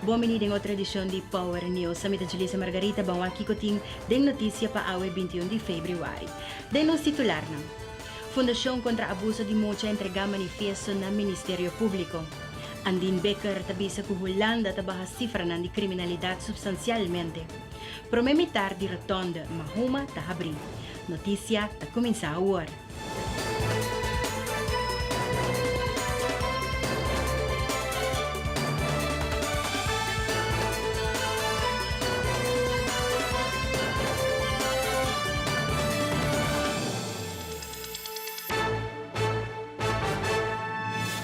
Bon bini den otro edicion di Power News. Ami ta Julissa Margarita, ban wak kico tin den noticia pa awe binti un di februari. Den nos titularnan. Fundacion contra abuso di mucha entrega manifiesto na Ministerio Publico. Andin Becker ta bisa cu Hulanda ta baha cifranan di criminalidad substancialmente. Prome mitar di Rotonde Mahuma ta habri. Noticia ta cuminsa awor.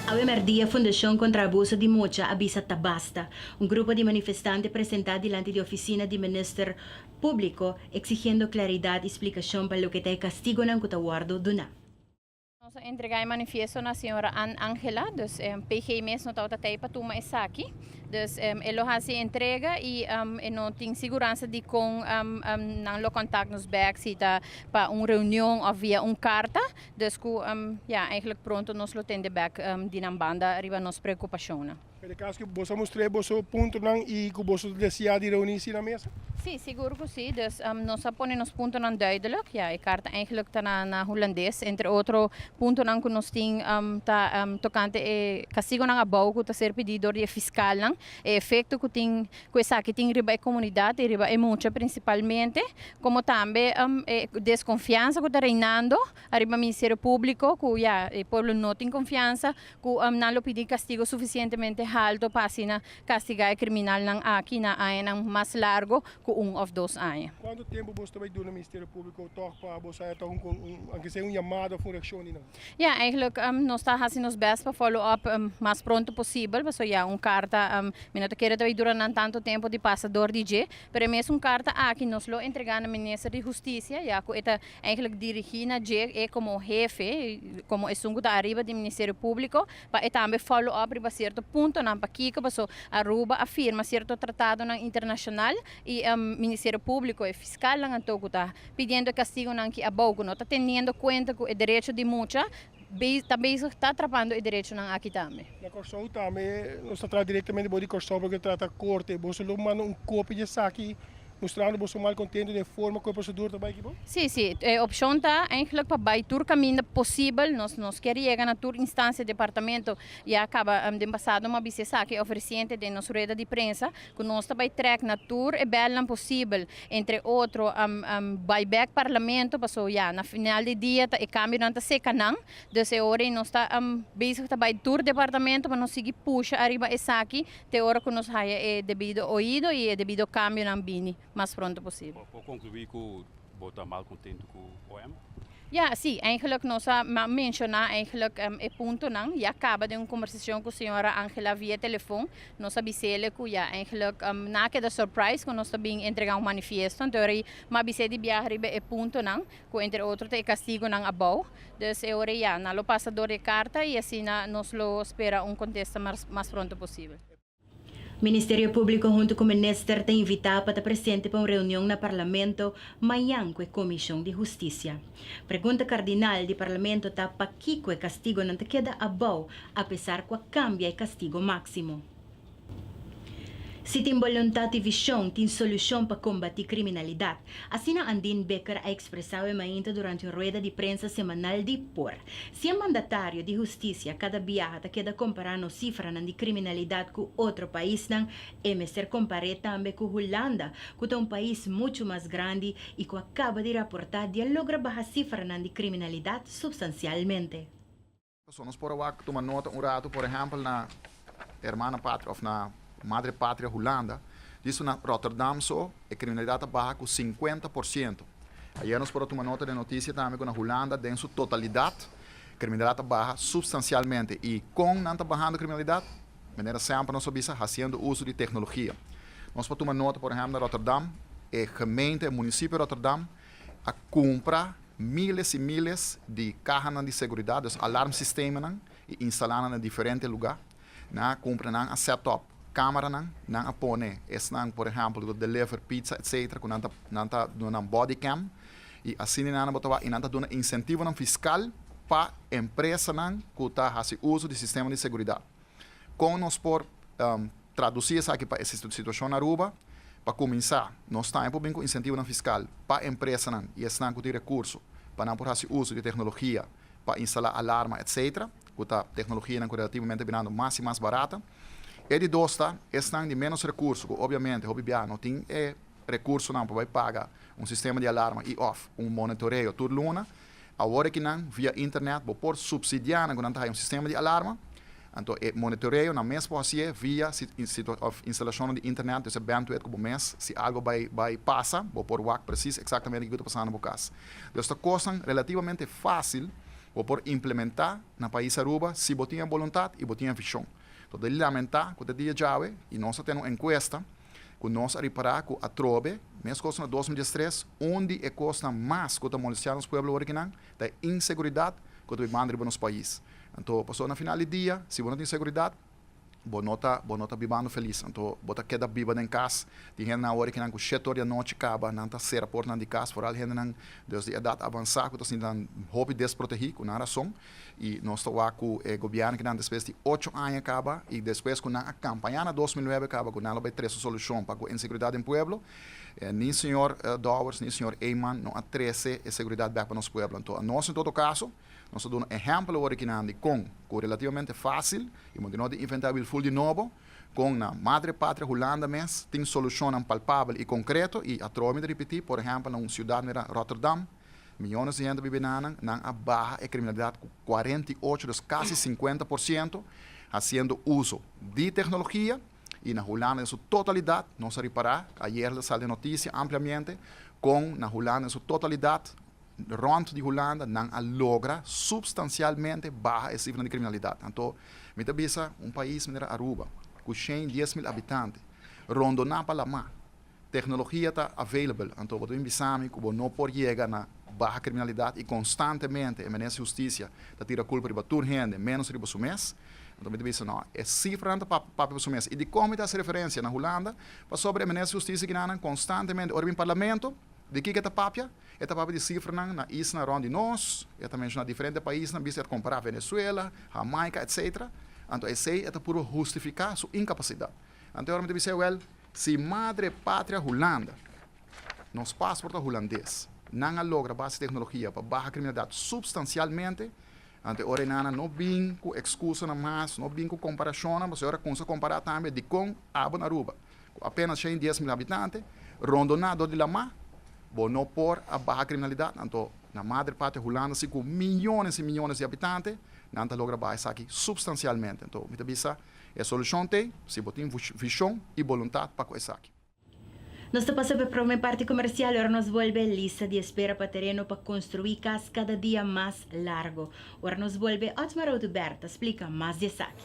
Awe merdia Fundashon kontra Abuso di Mucha a bisa ta basta. Un grupo di manifestante presentá dilanti di ofisina di minister Públiko, eksigiendo klaridat i splikashon pa loke ta e kastigonan ku ta wòrdu duná. Nos a entregá e manifiesto na señora Ann Angela, dus PG mes no tabata ta ei pa tuma esaki, dus e lo hasi e entrega i e no tin siguransa dikon nan lo kòntak nos bèk, si ta pa un reunion òf via un karta, dus ku ya, eigentlik pronto nos lo tende bèk di nan banda riba nos preokupashonnan. Pero e caso cu boso a mustr'é boso puntonan y cu boso ta desea di reuni si na mesa? Sí, sigur cu sí. Dus nos a pone nos puntonan duidelijk. Ya, e carta eigenlijk ta na, na Hulandes. Entre otro puntonan cu nos tin ta tocante e castigonan abou cu ta ser pidi door di e fiscalnan, e efecto cu tin, cu esaki tin riba e comunidad y riba e mucha principalmente, como tambe e desconfiansa cu ta reinando ariba Ministerio Publico, cu ya, e pueblo no tin confiansa Cu nan lo pidi castigo suficientemente halto pa asina castigá e criminalnan aki na añanan mas largo cu un of dos aña. Cuantu tempo boso ta bay duna Ministerio Publico tog pa boso haya tog un aunke sea un yamada of un reaccion di nan? Ya, eigenlijk nos ta haci nos best pa follow up mas pronto posibel, pasobra ya un carta mi no ta kere ta bay dura nan tanto tempo di pasa dor di dje, pero e mes un carta aki nos lo entrega na Minister di Husticia ya cu e ta Eigenlijk dirigi na dje e komo hefe, komo esun ku ta ariba di Ministerio Públiko, pa e tambe follow up riba sierto puntonan pakiko paso Aruba a firma sierto tratadonan internashonal i Ministerio Públiko, e fiskalnan anto ku ta pidiendo e kastigonan ki abou ku no ta teniendo kuenta ku e derecho di mucha ta bezig ta trapando e derechonan aki tambe. Na Kòrsou tambe, nos ta traha direktamente boso di Kòrsou pa boso trata korte. Boso lo manda un kopia di esaki mustrando boso malkontentu den e forma ku e prosedur ta bai aki bo? Sí, sí. E opshon ta eindelijk pa bai tur kaminda posibel. Nos nos kier yega na tur instansia, departamento. Ya kaba den pasado mi a bisa esaki òf resiente den nos rueda di prensa. Cu nos ta bay trek na tur e belnan posibel, entre otro bay bek parlamento, paso ya na final di dia ta e cambionan ta seca nan, dus e ora ey nos ta bezig ta bay tur departamento pa nos sigui pusha ariba esaki te ora cu nos haya e debido oido y e debido cambionan bini. mas pronto posibel. Por conclui cu bo ta mal contento cu OM? Ya, si, eigenlijk nos a menciona eigenlijk e puntonan. Ya caba den un conversacion cu señora Angela via telefon. Nos a bisa ele cu ya, eigenlijk na keda surprise cu nos ta bin entrega un manifiesto. Anto e ora ei m'a bisa di biaha riba e puntonan, cu entre otro ta e castigonan abao. Dus e ora ei ya, nan lo pasa door di e carta y asina nos lo spera un contesta mas pronto posibel. Ministerio Públiko huntu ku minister ta invitá pa ta presente pa un reunion na Parlamento mañan ku e Komishon di Hustisia. Pregunta kardinal di Parlamento ta pakiko e kastigonan ta keda abou apesar ku a kambia e kastigo máksimo. Si tin boluntat i vishon, tin solushon pa kombatí kriminalidat. Asina Andin Bekker a ekspresau e mainta durante un rueda di prensa semanal di por. Si e mandatario di hustisia kada biaha ta keda kompará nos sifranan di kriminalidat ku otro paisnan, e mester kompar'é tambe ku Hulanda, ku ta un pais muchu mas grandi i ku a kaba di raportá di a logra baha sifranan di kriminalidat supstansialmente. Pasobra nos por a wak tuma nota un ratu, por ehèmpel, na e Hermana Patria òf na Madre Patria Hulanda. Diso na Rotterdam so e kriminalidat a baha ku sinkuenta por siento. Ayera nos por a tuma nota den notisia tambe ku na Hulanda den su totalidat kriminalidat a baha supstansialmente. I kon nan ta bahando kriminalidat? Manera sèmper nos a bisa, hasiendo uso di teknologia. Nos por a tuma nota, por ehèmpel, na Rotterdam, e gemeente, e munisipio Rotterdam, a cumpra miles y miles di cahanan di seguridat, dus alarm sistemanan, y instala nan na diferente luga, nan a cumpra, nan a set up camaranan, nan a pone esnan, por ehempel, cu ta deliver pizza etc. Cu nan ta nan ta duna nan body cam, y asina e nana bo ta wak, y nan ta duna incentivonan fiscal pa empresanan cu ta haci uzo di sistema di seguridat. Con nos por. Traducí esaki pa e situacion Aruba. Pa cuminzá, nos taña por bin cu incentivonan fiscal pa empresanan y esnan cu tin recurso pa nan por haci uso di tecnología pa instalá alarma, etc. Cu ta tecnologianan cu relativamente binando mas y mas barata. E di dos ta esnan di ménos recurso cu obviamente hopi biaha no tin e recursonan pa bay paga un sistema di alarma y of un monitoreo tur luna. Awor aki nan, via internet bo por subsidiá nan ku nan ta haya un sistema di alarma. Anto e monitoreo nan mes por hasié via of instalashonnan di internet, desa bandwidth ku bo mes. Si algu bai bai pasa, bo por wak presis eksaktamente kiko ta pasando bo kas. Desa ta kosnan relativamente fásil bo por implementá na pais Aruba si bo tin e boluntat i bo tin e vishon. Lo ta di lamentá ku te dia djawe i nos ta tene un enkuesta, Ku nos a ripará ku atrobe, meskos na dos mil diestres, un di e kosnan mas ku ta molestiá nos pueblo wòrdu kinan ta e inseguridat ku ta bai banda riba nos pais. Anto pasobra na final di dia, si bo no tin seguridat, bo no ta bo no ta bibando felis. Anto bo ta keda biba den kas. Tin hendenan awor kinan ku shete or di anochi kaba nan ta sera portanan di kas, foral hendenan desde edat avansá ku ta sintinan hopi desprotehí, ku nan rason. I nos ta wak ku e gobièrnunan despues di ocho aña kaba i despues ku nan a kampañá na dos mil nuebe kaba ku nan lo bai trese solushon pa ku inseguridat den pueblo, ni señor Dowers ni señor Eman no a trese e seguridat bèk pa nos pueblo. Anto anos en todo kaso nos ta duna ehèmpel awor ikinan di kon ku relativamente fásil i mos di no tin inventá wilful di nobo kon na madre patria Hulanda mes tin solushonnan palpabel i konkreto i atroa mi ta ripití por ehèmpel na un siudat mirá Rotterdam Miyones di hende bibi nanan, nan a baha e kriminalidat ku kuarenta i ocho, dus kasi sinkuenta por siento, hasiendo uso di teknologia, i na Hulanda den su totalidat, nos a ripará, ayer ta sali e notisia ampliamente, kon na Hulanda den su totalidat, rònt di Hulanda, nan a logra supstansialmente baha e sifranan di kriminalidat. Anto, mi ta bisa un pais manera Aruba, ku shen, dies mil habitante, rondo nan pa lamá. Tecnologia ta available, anto bo ta bin bisa mi cu bo no por yega na baha criminalidad y constantemente e Minister di Husticia ta tira culpa riba tur hende, menos riba su mes? Anto mi ta bisa no, e cifranan ta papia pa su mes. Y dicon mi ta haci referencia na Hulanda? Pasobra e Minister di Husticia Ginanan constantemente ora bin Parlamento, di kico e ta papia? E ta papia di cifranan na isla rond di nos, e ta menciona diferente paisnan bisti e ta compara Venezuela, Jamaica, etcetera. Anto esey e ta purba justifica su incapacidad. Anto e ora mi ta bisa, ewel, Si madre patria Hulanda, nos pasport ta Hulandes. Nan a logra base tecnologia pa baha criminalidad substancialmente, anto e ora enana no bin cu excusanan mas, no bin cu comparacionnan, pasobra e ora cunsha compara tambe dicon aba na Aruba, cu apenas shen dies mil habitante, rondona dor di lama, bo no por a baha criminalidad, anto na madre patria Hulanda si cu miyones y miyones di habitante nan ta logra baha esaki substancialmente. Anto mi ta bisa. E solushon t'ei si bo tin vishon i boluntat pa ku esaki. Nos ta pasa p'e prome parti komersial, ora nos bolbe e lista di espera pa tereno pa konstruí kas kada dia mas largo. Ora nos bolbe, Otmar Oduber ta splika mas di esaki.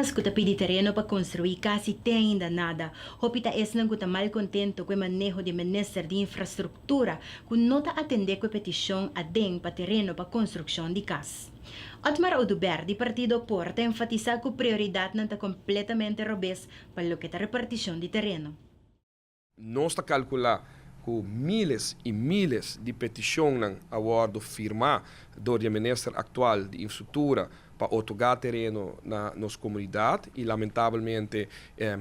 Añas cu ta pidi tereno pa construi cas y te ainda nada. Hopi ta esnan cu ta mal contento cu e maneho di e Minister di Infrastructura cu no ta atende cu e peticion aden pa tereno pa construccion di cas. Otmar Oduber di Partido Opor ta enfatisá ku prioridatnan ta kompletamente robes pa loke ta repartishon di tereno. Nos ta kalkulá ku míles i míles di petishonnan a wòrdu firmá dor di e minister aktual di Infstruktura pa otorgá tereno na nos komunidat i lamentabelmente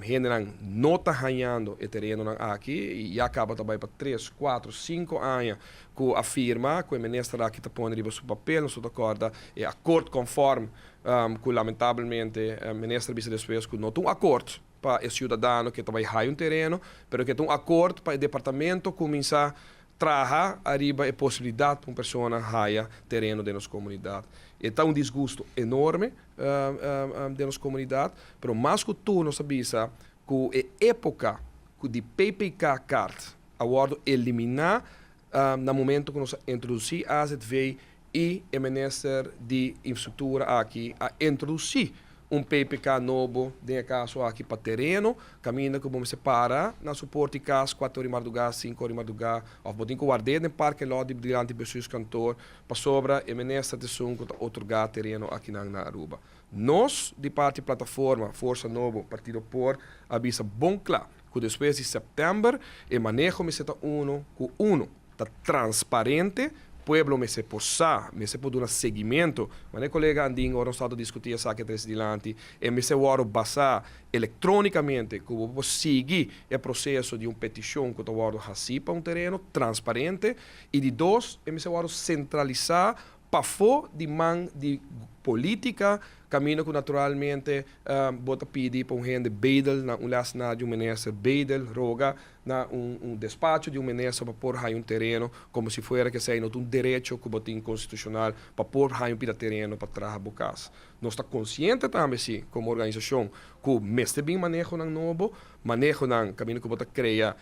hendenan no ta hañando e terenonan aki i ya kaba ta bai pa tres, kuatro, sinku aña cu a firma cu e minister aki ta pone riba su papel, nos ta corda e acord conform cu lamentablemente minister a bisa despues cu no ta un acord pa e ciudadano ke ta bay hay un tereno, pero ke ta un acord pa e departamento cuminsa traha ariba e posibilidad pa un persona haya tereno den nos comunidad. E ta un disgusto enorme den nos comunidad, pero mas cu tur nos ta bisa cu e epoca cu di PPK kaart a wordo eliminá na momento cu nos a introducí azv y e Minister di Infrastructura aki a introducí un PPK nobo den e caso aki pa tereno, caminda cu bo mester para na su poort di cas cuater ora di mardugá, cinco ora di mardugá of bo tin cu ward'é den parking lot di dilanti bestuurskantoor pasobra e Minister t'esun cu ta otorgá tereno akinan na Aruba. Nos di parti Plataforma Forsa Nobo Partido Por a bisa bon kla ku despues di sèptèmber e maneho mester ta uno ku uno, ta transparente, pueblo mester por sa, mester por duna seguimento, manera e kolega Andin ora nos tabata diskutí esaki atres dilanti, e mester wòrdu basá elektrónikamente ku bo por sigui e proseso di un petishon ku ta wòrdu hasí pa un tereno transparente i di dos e mester wòrdu sentralisá pafó di man di polítika, kaminda ku naturalmente bo ta pidi pa un hende bedel na un lès na di un minister, bedel, roga, na un despacho di un minister pa por haña un tereno, komo si fuera ke esei no ta un derecho ku bo tin konstitushonal pa por haña un pida tereno pa traha bo kas. Nos ta konsiente tambe si, komo organisashon, ku mester bin manehonan nobo, manehonan kaminda ku bo ta krea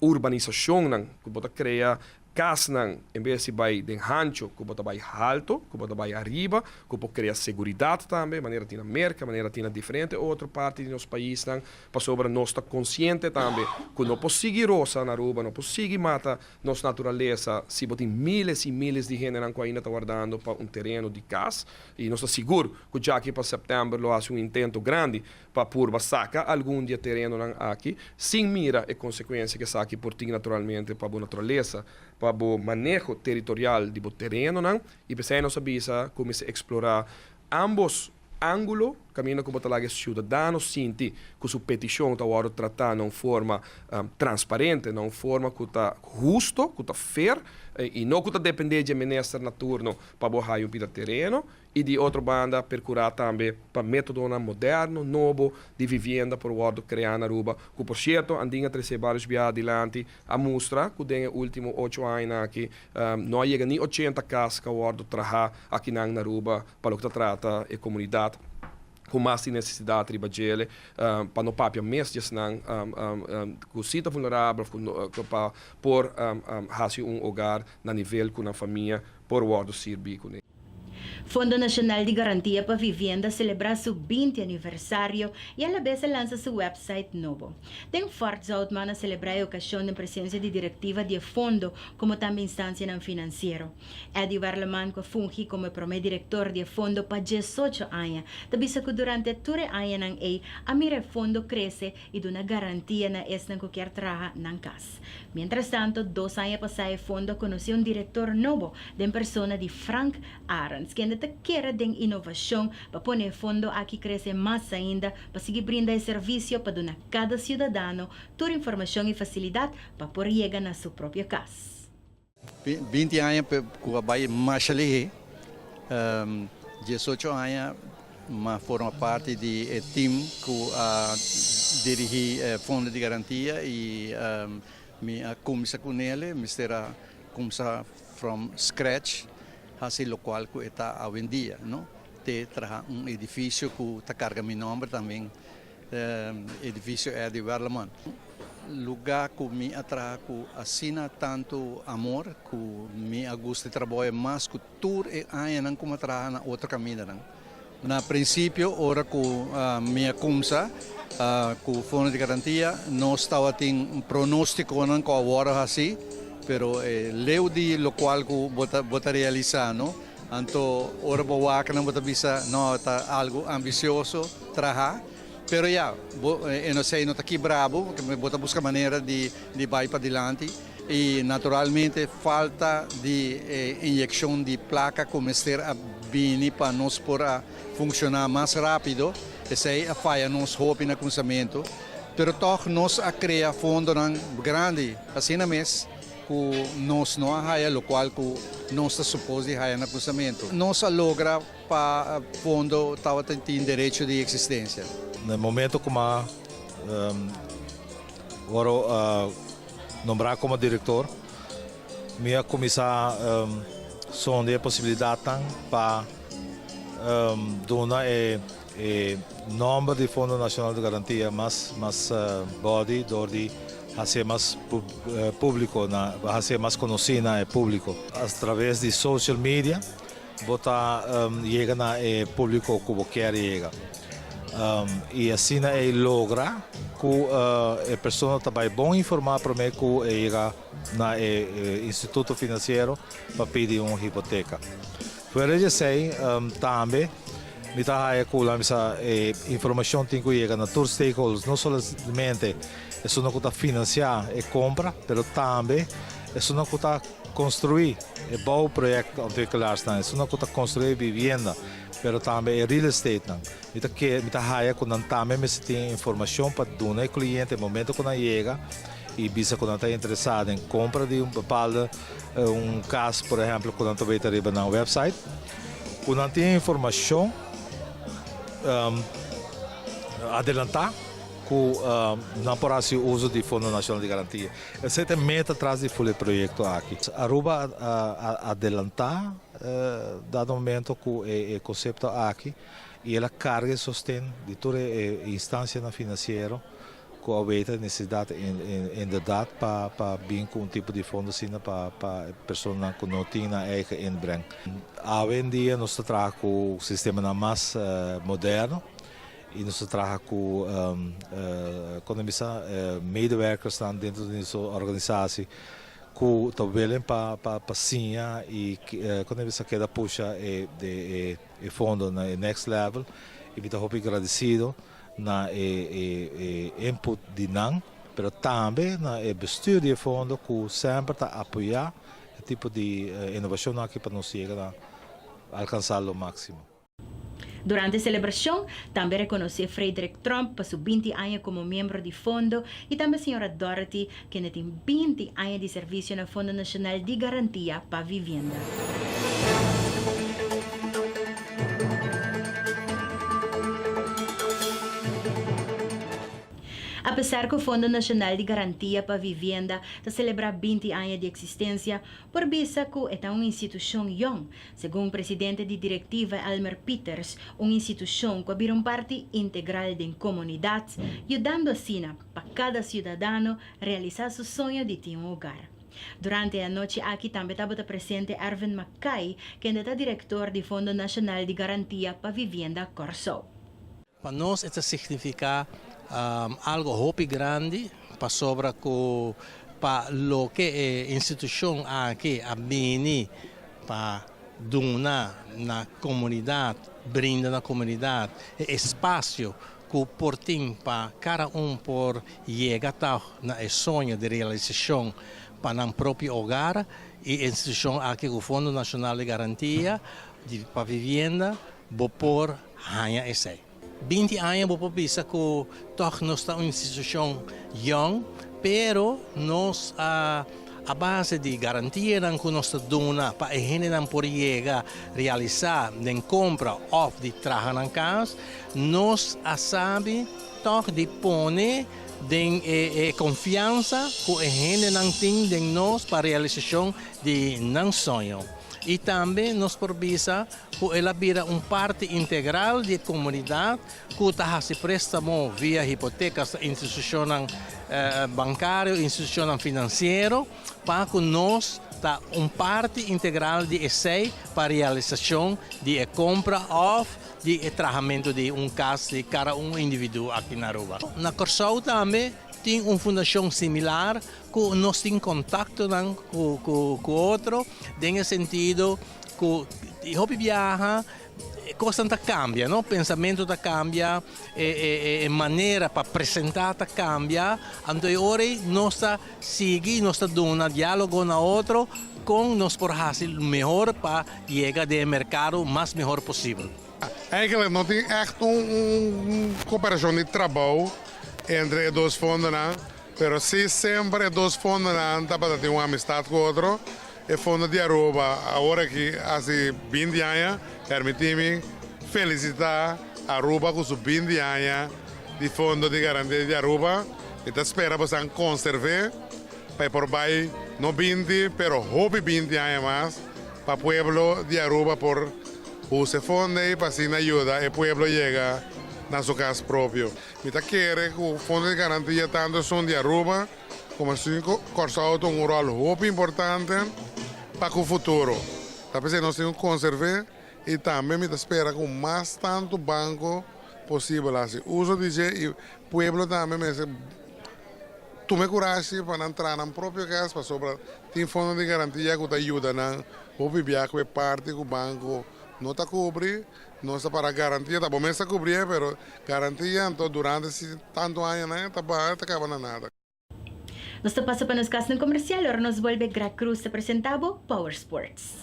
urbanisashonnan, ku bo ta krea Kasnan, en bes di bai den hancho, ku bo ta bai halto, ku bo ta bai ariba, ku por krea seguridat tambe, manera tin na Merka, manera tin na diferente otro parti di nos paisnan, pasobra nos ta konsiente tambe ku no por sigui rosa na Aruba, no por sigui mata nos naturalesa si bo tin míles i míles di hendenan ku ainda ta wardando pa un tereno di kas. I nos ta sigur ku djaki pa sèptèmber lo hasi un intento grandi. pa purba saca algun di e terenonan aki, sin mira e consecuencia cu esaki por tin naturalmente pa bo naturaleza, pa bo maneho territorial di bo terenonan, y p'esei nos a bisa cu mester explora ambos angulo, caminda cu bo ta laga e ciudadano sinti cu su peticion ta wordo trata na un forma transparente, na un forma cu ta husto, cu ta fair, y no cu ta depende dje minister na turno pa bo haya un pida tereno. I di otro banda percurá tambe pa métodonan moderno, nobo, di vivienda por wòrdu creá na Aruba, cu por cierto Andina Tresé Barrios Biaha dilanti a mustra cu den e ultimo ocho añanan aki no a yega ni ochenta cas ca wòrdu trahá akinan na Aruba pa loke ta trata e comunidad cu mas tin necesidad riba djele pa no papia mes di esnan cu si ta vulnerabel cu pa por haci un hogar na nivel cu nan famia por wòrdu sirbí kuné. Fondo Nacional di Garantia pa Vivienda selebrá su binti aniversario i alabes a lansa su wèpsait nobo. Den fòrt zout man a selebrá e okashon den presensia di direktiva di e fondo komo tambe instansianan finansiero. Eddy Warleman ku a fungi komo e promé direktor di e fondo pa diesocho aña, ta bisa ku durante tur e añanan ei a mira e fondo krese i duna garantia na esnan ku kier traha nan kas. Mientrastanto, dos aña pasá e fondo a konosé un direktor nobo den persona di Frank Arends, kende ta kere den inovashon pa pone e fondo aki krese mas ainda pa sigui brinda e servisio pa duna kada siudadano tur informashon i fasilidat pa por yega na su propio kas. Binti aña ku a bai masha lihé, diesocho aña m'a forma parti di e tim ku a dirigí e Fondo di Garantia i mi a kuminsá ku Nele, mester a kuminsá from scratch hasi lokual ku e ta awendia, te traha un edifisio ku ta karga mi nòmber tambe. Edificio Eddie Werleman, luga ku mi a traha ku asina tantu amor ku mi a gusta di traboya mas ku tur e añanan ku mi a traha na otro kamindanan. Na prinsipio ora ku mi a kumsa ku Fondo di Garantia nos tabatin pronostikonan ku a wòrdu hasí, pero leu di lokual ku bo ta realisá no Anto ora bo wakanan bo ta bisa, No, e ta algu ambisioso, traha. Pero ya, bo e no sei no ta kibra bo, pasobra bo ta buska manera di bai padilanti. I naturalmente falta di e inyekshon di plaka ku mester a bini pa nos por a funshoná mas rápido, esei a faya nos hopi na kunsamentu. Pero tòg nos a krea fondonan grandi asina mes. ku nos no a haya lokual ku nos ta supos di haya na krusamentu. Nos a logra pa Pondo tabata tin derecho di eksistensia. Na e momento kuma Oro a nombra komo direktor, mi a kuminsá sonde e posibilidatnan pa duna e. E nòmber di Fondo Nacional di Garantia mas mas bòdi dor di hasié mas públiko na hasié mas konosí na e públiko. Atraves di social media bo ta yega na e públiko ku bo kier yega i asina ei logra ku e persona ta bai bon informá promé ku e yega na e instituto finansiero pa pidi un hipoteka. Fuera di esei tambe mi ta haya cu laami sa e informacion tin cu yega na tur stakeholders, no solamente esunnan cu ta financia e compra, pero tambe esunnan cu ta construi e bouwprojectontwikkelarsnan, esunnan cu ta construi e vivienda, pero tambe e real estatenan. Mi ta kere, mi ta haya cu nan tambe mester tin e informacion pa duna e cliente momento cu nan yega. y bisa cu nan ta interesa den compra di un bepalde un cas por ehemplo cu nan ta weten riba nan website cu nan tin informacion adelanta cu nan por haci uzo di Fondo Nacional di Garantia. Esey ta e meta tras di Fule proyecto aki. Aruba a adelanta dado momento cu e concepto aki y el a carga e sosten di tur e instancianan financiero Cu a weten e necesidad inderdaad pa bin cu un tipo di fondo asina pa e personanan cu no tin nan eigen inbreng. Awe en dia nos ta traha cu sistemanan mas moderno y nos ta traha cu con ta bisa medewerkersnan dentro di nos organisatie cu ta willen pa siña y con ta bisa keda pusha e. E fondo na e next level y mi ta hopi gradecido na e input di nan, pero tambe na e bestuur di e fondo cu semper ta apoya e tipo di innovacionnan aki pa nos yega na alcansa lo maximo. Durante e celebracion tambe reconoce Frederick Tromp pa su binti aña como miembro di fondo y tambe señora Dorothy Kende tin binti aña di servisio na Fondo Nacional di Garantia pa Vivienda. Apesar cu Fondo Nacional di Garantia pa Vivienda ta celebra binti aña di existencia, por bisa cu e ta un institucion yong. Segun Presidente di Directiva Elmer Pieters, un institucion cu a bira un parti integral den comunidad, yudando asina, Pa kada ciudadano realisa su soño di tin un hogar. Durante e anochi aki tambe tabata presente Ervin McKay, kende ta director di Fondo Nacional di Garantia pa Vivienda Corsou. Pa nos e ta significa algo hopi grandi pasobra cu pa loke e institucion aki a bini pa duna na comunidad, brinda na comunidad e espacio ku por tin pa kada un por yega ta na e soño di realisashon pa nan propio ogar i e institushon aki ku Fondo Nashonal di Garantia di pa Vivienda bo por haña esei. Binti aña bo por bisa ku tòg nos ta un institushon yòn pero nos a. A base di garantianan cu nos ta duna pa e hendenan por yega realisa den compra of di traha nan cas, nos a sabi toch di pone den e e confiansa cu e hendenan tin den nos pa realisacion di nan soño. Y tambe nos por bisa cu el a bira un parti integral di e comunidad ku ta hasi préstamo via hipotekas na institushonnan bankario, institushonnan finansiero, pa ku nos ta un parti integral di esei pa realisashon di e kompra òf di e trahamentu di un kas di kada un individu aki na Aruba. Na Kòrsou tambe tin un fundashon similar ku nos tin kontaktonan ku otro den e sentido ku hopi biaha E kosnan ta kambia no, pensamentu ta kambia, e e e manera pa presentá ta kambia, anto e ora ei nos ta sigui, nos ta duna diálogo na otro kon nos por hasi mehor pa yega den e merkado mas mehor posibel. Eigenlijk no tin echt un un cooperacion di trabou entre e dos fondonan, pero si semper e dos fondonan tabata tin un amistad cu otro, E fondo di Aruba awor aki hasi binti aña, permiti mi felisita Aruba ku su binti aña di fondo di garantia di Aruba. Mi ta spera bo san konserve pa e por bai no binti pero hopi binti aña mas pa pueblo di Aruba por usa e fondo ei pa asina yuda e pueblo yega na su kas propio. Mi ta kere ku fondo di garantia tantu esun di Aruba Como así cu Kòrsou ta un ròl hopi importante pa cu futuro. Ta p'esei nos tin cu conservé y tambe mi ta spera cu mas tanto banco posibel haci uzo di dje y pueblo tambe mester tuma e curashi pa nan traha nan propio cas pasobra tin fondo di garantia cu ta yuda nan hopi bia cu e parti cu banco no ta cubri Nos ta para garantia, ta bo mes ta cubri'e, pero garantia anto durante si tanto añanan e ta baha e ta caba na nada. Nos ta pasa pa nos casnan comercial ora nos bolbe Grac Cruz ta presenta bo Power Sports.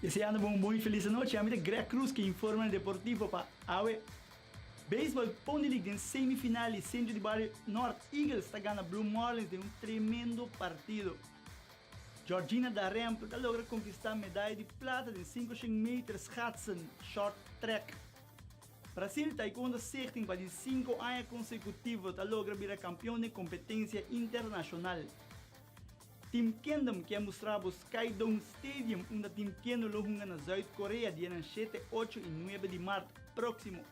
Deseando bo un bon y feliz anochi. Ami ta Greg Cruz cu informa na Deportivo pa awe. Baseball Pony League den semi final y Centro di Bario North Eagles ta gana Blue Marlins den un tremendo partido. Georgina Darempe ta logra konkistá medaya di plata den sinku shen meter schatsen short track. Brasil Taekwondo Stichting pa di sinku aña konsekutivo ta logra bira kampion den kompetensia internashonal. Team Kendom ke a mustrá bo Skydome Stadium unda Team Kendo lo hunga na Zuid Korea dianan shete, ocho i nuebe di mart próksimo.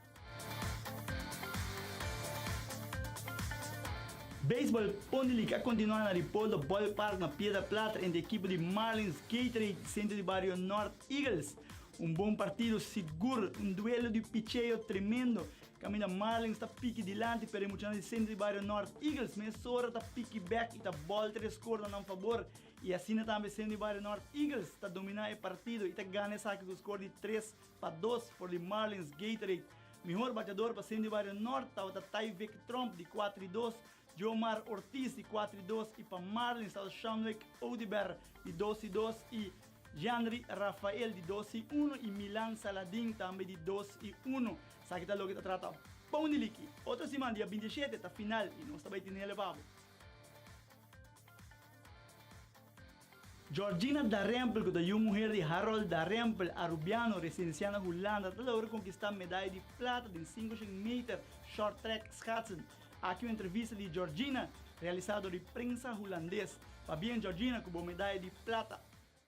Baseball Ponyleague a kontinuá na di Polder Ballpark na Piedra Plata entre ekipo di Marlins Gatorade Sentro di Bario Nort Eagles. Un bon partido sigur, un duelo di picheo tremendo. Kaminda Marlins ta piki dilanti pero e muchanan di Sentro di Bario Nort Eagles mesora ta piki bèk i ta bòlter e skor na nan fabor i asina tambe Sentro di Bario Nort Eagles ta dominá e partido i ta gana esaki ku skor di tres Pa dos for di Marlins Gatorade, mihor batedor pa Sendy Bario Nort tabata Tyvek Tromp di kuater i dos, Jomar Ortiz di kuater i dos i pa Marlins tabata Shamlek Oduber di dos i dos i Jeanry Rafael di dos i unu i Milan Saladin tambe di dos i unu. Esaki ta loke ta trata Poundiliki. Otro siman dia binti e shete ta final i nos ta bai tene lebabo. Georgina Darempel, cu ta yu muher di Harold Darempel, Arubiano, residenciá na Hulanda, ta logra konkistá medaya di plata den sinku shen meter shorttrack schaatsen. Aki un entrevista di Georgina realisá dor di prensa Hulandes. Pabien Georgina cu bo medaya di plata.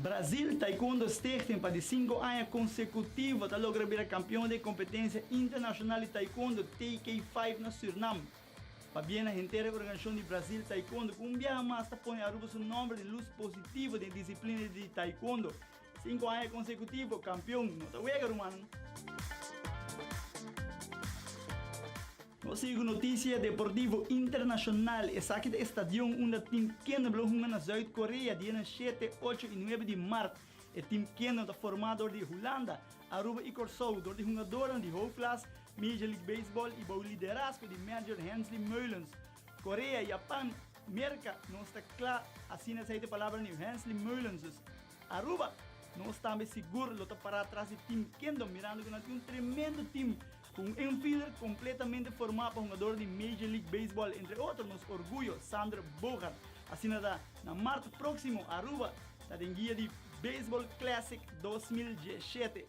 Brazil Taekwondo Stichting pa di sinku aña konsekutivo ta logra bira kampion den kompetensia internashonal di taekwondo TK Five na Sürnam. Pabia na henter e organishashon di Brazil Taekwondo ku un biaha mas ta pone Aruba su nòmber di lus positivo den disiplina di taekwondo, Sinku aña konsekutivo kampion no ta wega, rumannan. Nos sigui ku notisia deportivo internashonal. Esaki ta e stadion unda tim kende lo hunga na Zuid Korea dia nan shete, ocho i nuebe di mart. E tim kende no ta forma dor di Hulanda, Aruba i Kòrsou, dor di hungadornan di hoofdklass, Major League Baseball i bou liderasko di manager Hensley Meulens. Korea, Japan, Merka nos ta kla, asina esei ta e palabra di Hensley Meulens. Aruba, Nos tambe sigur lo ta pará tras di Team Kendo mirando ku nan tin un tremendo team ku un infielder kompletamente formá pa hungador di Major League Baseball entre otro nos orguyo Xander Bogaerts. Asina ta, na mart próksimo Aruba ta den guia di Baseball Classic dos mil diesshete.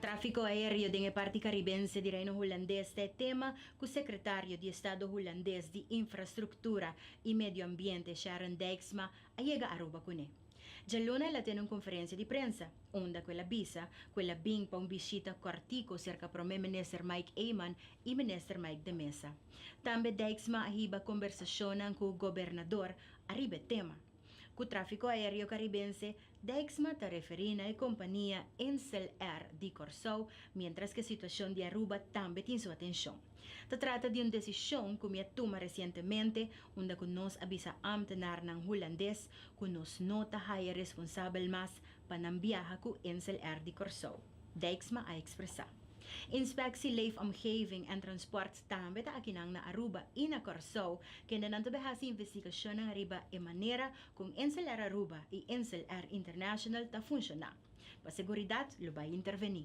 Tráfiko aéreo den e parti karibense di Reino Hulandes ta e tema ku Sekretario di Estado Hulandes di Infrastruktura i Medioambiente Sharon Dijksma a yega Aruba kuné. Djaluna el a tene un konferensia di prensa unda ku el a bisa ku el a bin pa un bishita kòrtiku serka Prome Minister Mike Eman i Minister Mike de Meza. Tambe Dijksma a hiba kombersashonnan ku gobernador ariba e tema. Ku tráfiko aéreo karibense, Dijksma ta referí na e kompania Insel Air di Kòrsou, miéntras ku e situashon di Aruba tambe tin su atenshon. Ta trata di un desishon ku mi a tuma resientemente unda ku nos a bisa ámtenarnan hulandes ku nos no ta haya responsabel mas pa nan biaha ku Insel-R di Kòrsou, Dijksma a ekspresá. Inspeksie Leefomgeving en Transport tambe ta akinan na Aruba i na Kòrsou kende nan ta bai hasi investigashonnan riba e manera ku Insel-R Aruba i Insel-R International ta funshoná. Pa seguridat lo bai intervení.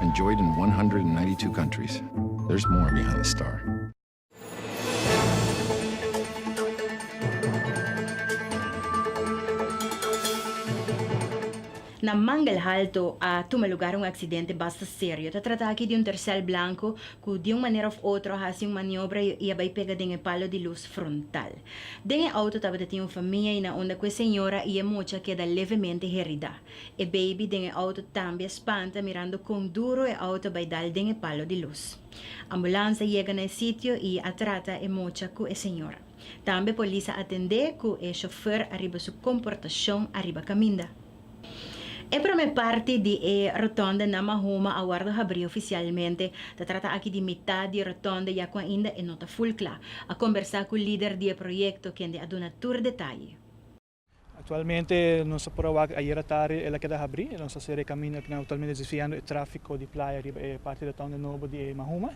enjoyed in one hundred and ninety two countries. There's more behind the star. Na Mangelhalto a tuma lugar un aksidente basta serio. Ta trata aki di un tercel blanco cu di un manera of otro a haci un maniobra y a bay pega den e palo di luz frontal. Den e auto tabata tin un famia y na unda cu e señora y e mucha keda levemente herida. E baby den e auto tambe a spanta mirando con duro e auto bay dal den e palo di luz. Ambulans a yega na e sitio y a trata e mocha cu e señora. Tambe polis a atende cu e chofer ariba su comportacion ariba caminda. E prome parti di e rotonde na Mahoma a wordo habri oficialmente. Ta trata aki di mitad di e rotonde ya cu ainda e no ta full cla. A combersa cu lider di e proyecto kende a duna tur detaye. Aktualmente nos ta por a wak ayera tardi el a keda habri, nos ta sera e kaminda ku nan aktualmente desviando e tráfiko di playa riba e parti di Town di Nobo di e Mahuma.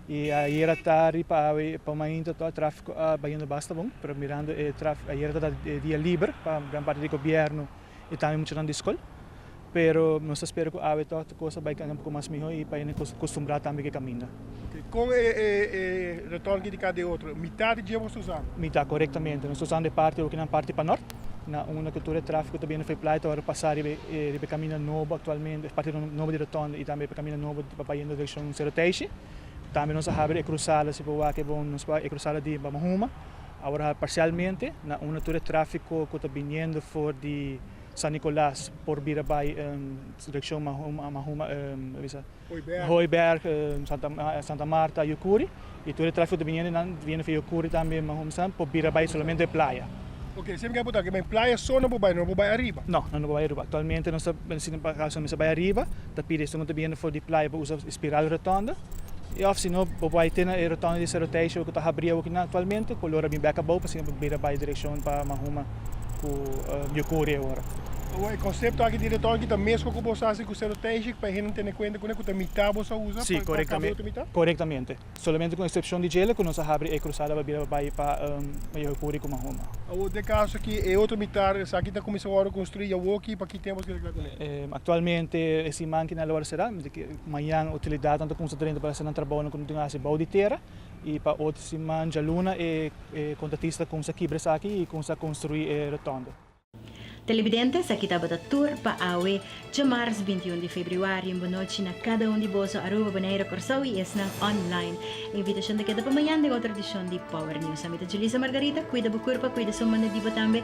I ayera tardi pa awe pa mainta tò e tráfiko a bayendo basta bon, pero mirando e tráfiko ayera tabata e dia liber pa gran parti di gobièrnu i tambe muchanan di skol. Pero nos ta spera cu awe tog ta cos ta bay cambia un poco mas miho y pa hende costumbrá tambe cu e caminda. Con e retorgi di cada e otro, mitad di dje boso ta usa? Mitad, corectamente. Nos ta usa e parti okinan parti pa nort, na unda cu tur e trafico ta bini Fairplay ta worde pasa riba e caminda nobo actualmente, e parti nobo di rotonda y tambe e caminda nobo pa bay hende direccion Cerro Teishi. Tambe nos a habri e cruzada, si bo wak e bon, nos wak e cruzada di Bamahuma, awor a habri parcialmente na unda tur e trafico cu ta biniendo for di. San Nicolas por bira bai direccion Mahuma, Hooiberg, Santa Marta, Yucuri y tur e trafico ta biniendo nan ta biniendo via Yucuri tambe Mahumstan por bira bai solamente playa. Ok, siempre ke bo ta aki ma playa so nan por bai, nan no por bai ariba? No, nan no por bai ariba. Actualmente nos ta bensina pa caso mester bai ariba ta pidi esnan ku ta biniendo for di playa pa usa espiral rotonda y of sino bo bai te na e rotonda di Cerro Tejo ku ta habri awe kinan actualmente color a bin back abou pasobra nan por bira bai direccion pa Mahuma. ku mihó kore awor. Awor e konsepto aki direktor aki ta mesmu ku boso hasi ku sero tensik pa e hende tene kuenta kuné ku ta mitá boso a usa pa pa kaba otro mitá? Korektamente. Solamente kon eksepshon di djele ku nos a habri e krusada pa bira pa bai pa Mihó Kore ku Mahoma. Awor den kaso ki e otro mitá esaki ta kuminsá wòrdu konstruí ya woki pa ki tempu nos ke reglá kuné? Aktualmente e siman ki na lo a será, mañan otilidadnan ta kuminsá drenta pa hasi nan trabounan ku nan tin hasi bou di tera. I pa otro siman djaluna e kontratista kumsa kibra esaki i kumsa konstruí e rotonda. Telebidente, Esaki tabata tur pa awe, djamars binti un di febrüari. Un bonochi na kada un di boso, Aruba, Boneiru, Kòrsou i esnan online. E invitashon ta keda pa mañan den otro edishon di Power News. Ami ta Julisa Margarita, kuida bo kurpa, kuida su mano di bo tambe.